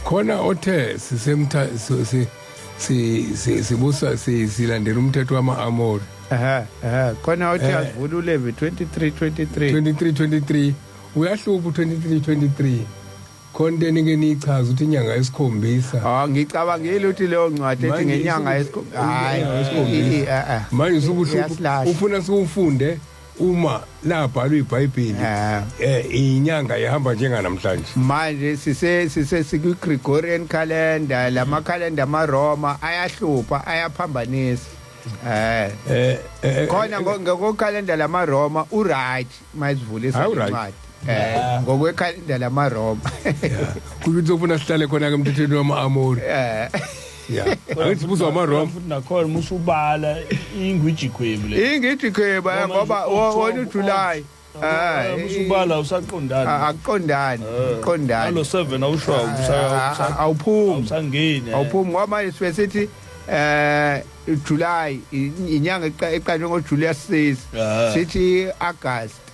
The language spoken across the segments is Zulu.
khona othe sisemtha si- si- si- si- sibusa si- silandela umthetho wama-amori ehe ehe khona othi Eh. asivula ulevi 23 23 23 23 uyahlupha u-23 23 khona into enike niyichaza ukuthi inyanga esikhombisa Oh ngicabangile ukuthi leyo ncwadi ethi Manje ngenyanga isiku- yesikhombisa. Inyanga yesikhombisa. Hayi. manje usukuhlupha Iyasilahla. ufuna siwufunde uma labhalwa iBhayibheli eh. eh inyanga ihamba njenga namhlanje manje sise sise siku Gregorian calendar lama calendar ama Roma ayahlupha ayaphambanisa eh, eh, eh, eh khona ngoko calendar lama Roma u right mayivule isincwadi eh ngokwe calendar lama Roma ukuthi ufuna sihlale khona ke emthethweni wama Amori eh ya angithi buzo ama wrong futhi nakhona musu ubala ingwiji khwebu le ingidi khweba Ngoba ngoba nje wo- October, wona uJuly Ah, musu eh, ubala ah, usaqondana akuqondani alo kuqondani 7 awusho Ah, ah, awusa- awuphumi awusangeni eh. awuphumi ngoba manje sibe sithi eh July i- inyanga eqa- eqanjwe ngoJuly yasisi Ah. sithi August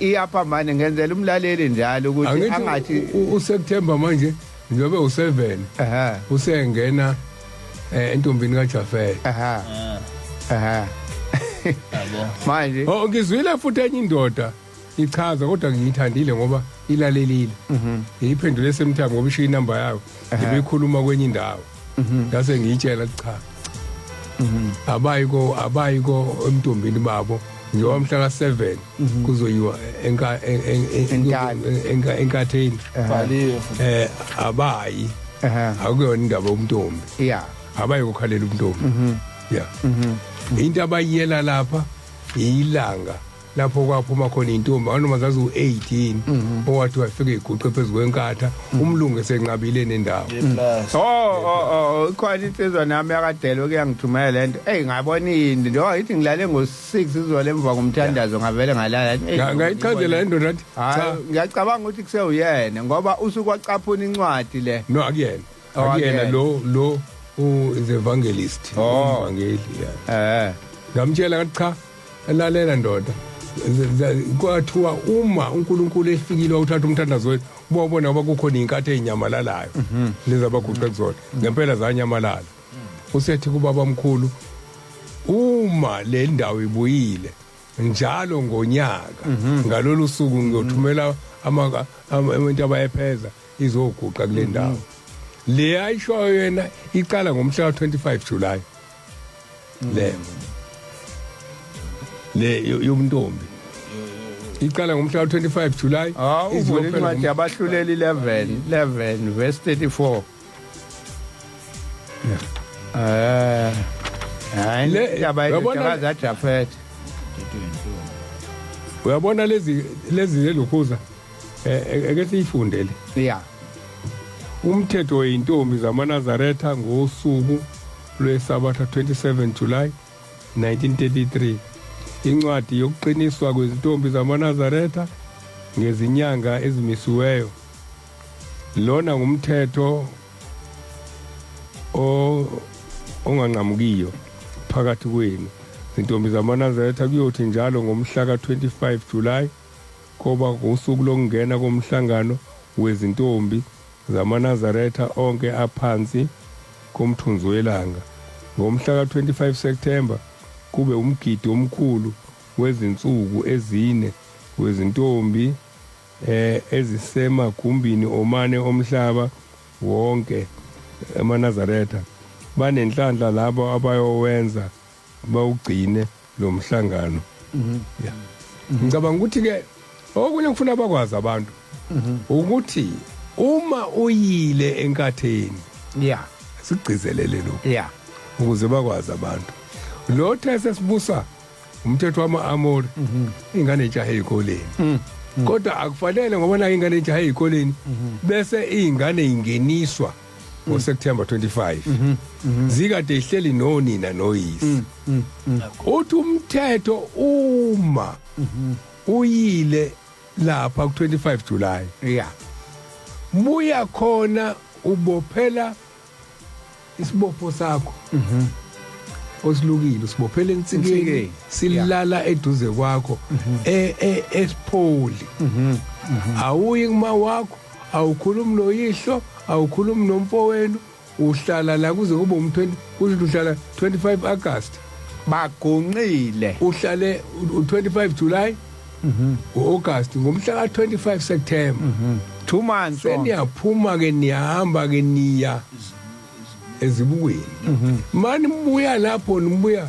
iyapha manje ngenzela umlaleli njalo ukuthi angathi uSeptember manje njengoba u7 usengena eh, entombini kaJafela aha aha manje oh ngizwile futhi enye indoda ichaza kodwa ngiyithandile ngoba ilalelile mhm. ngiyiphendule semthambo ngoba ishiya inamba yayo ngibekhuluma kwenye indawo mhm. ngase ngiyitshela cha mhm. abayi ko abayi ko emntombini babo njengoba mhla ka 7 mhm. kuzoyiwa enka enka enkatheni bhaliwe eh abayi akuyona indaba umntombi yeah abayi kokhalela umntombi yeah into abayiyela lapha ilanga lapho kwaphuma khona intombi anoma zazi u18 mhm. owathi wafika iguqe phezu kwenkatha mhm. umlungu esenqabile nendawo mhm. oh oh oh ikhona insizwa nami yakadelo kuyangithumela lento hey ngabona into njengoba ngithi ngilale ngo6 izole emva komthandazo ngavele ngalala ngayichazela indoda athi cha ngiyacabanga ukuthi kusewuyena ngoba usuku wacaphuna incwadi le no akuyena oh, akuyena lo lo u the evangelist oh. umvangeli yeah eh ngamtshela ngathi cha lalela ndoda kwathiwa uma uNkulunkulu efikile wawuthatha umthandazo wethu ubawubona ngoba kukhona inkathi ezinyamalalayo mhm. lezi abaguqe kuzona ngempela zanyamalala usethi kubaba mkhulu uma le ndawo ibuyile njalo ngonyaka mhm. ngalolu suku ngiyothumela abantu abayepheza izoguqa kule mhm. ndawo le ayishoyo yena iqala ngomhla ka-25 julayi le le yobuntombi iqala ngomhla ka-25 july hawu uvule incwadi yabahluleli 11 11 verse 34 um hayi indaba yetakaza jafethe uyabona lezi lezi lelokhuza eh, eh, eke siyifundele ya umthetho weyintombi zamanazaretha ngosuku lweSabatha 27 July 1933 incwadi yokuqiniswa kwezintombi zamaNazaretha ngezinyanga ezimisiweyo lona ngumthetho onganqamukiyo phakathi kwenu zintombi zamanazaretha kuyothi njalo ngomhla ka-25 julayi koba ngosuku lokungena komhlangano wezintombi ZamaNazaretha onke aphansi komthunzi welanga. Ngomhla ka-25 Septhemba kube umgidi omkhulu wezinsuku ezine wezintombi ezisemagumbini omane omhlaba wonke. AmaNazaretha banenhlanhla labo abayowenza bawugcine lo mhlangano mhm. ya mhm. ngicabanga ukuthi ke okunye ngifuna bakwazi abantu mhm. ukuthi uma uyile enkatheni ya sigcizelele lo ya ukuze bakwazi abantu lo these sibusa umthetho wama-amori ingane entshahe eyikoleni mm. kodwa akufanele ngoba nayo ingane entshahe eyikoleni bese iy'ngane ingeniswa mm -hmm. ngoSeptember 25 mhm, mhm. zikade ihleli nonina noyise mm, mm, mm. uthi umthetho uma mhm. uyile lapha ku25 July yeah buya khona ubophela isibopho sakho mhm osilukile usibophela ensikeni silala eduze kwakho e, e, esipholi awuyi kuma wakho awukhulumi noyihlo awukhulumi nomfowenu uhlala la kuze kube um-20 kusho ukuthi uhlala 25 agasti bagonqile uhlale u-25 july mhm. ngo-agasti ngomhla ka-25 september mhm. two months seniyaphuma-ke niyahamba-ke niya ezibukweni mhm. mani nibuya lapho nibuya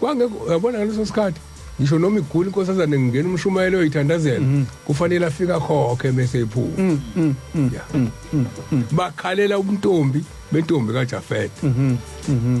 kwangekho uyabona ngaleso sikhathi ngisho noma igula inkosazane ngingena umshumayelo oyithandazela mhm. kufanele afike akhokhe mese iphuma mm, mm, mm, bakhalela ubuntombi bentombi kajafete mhm, mhm.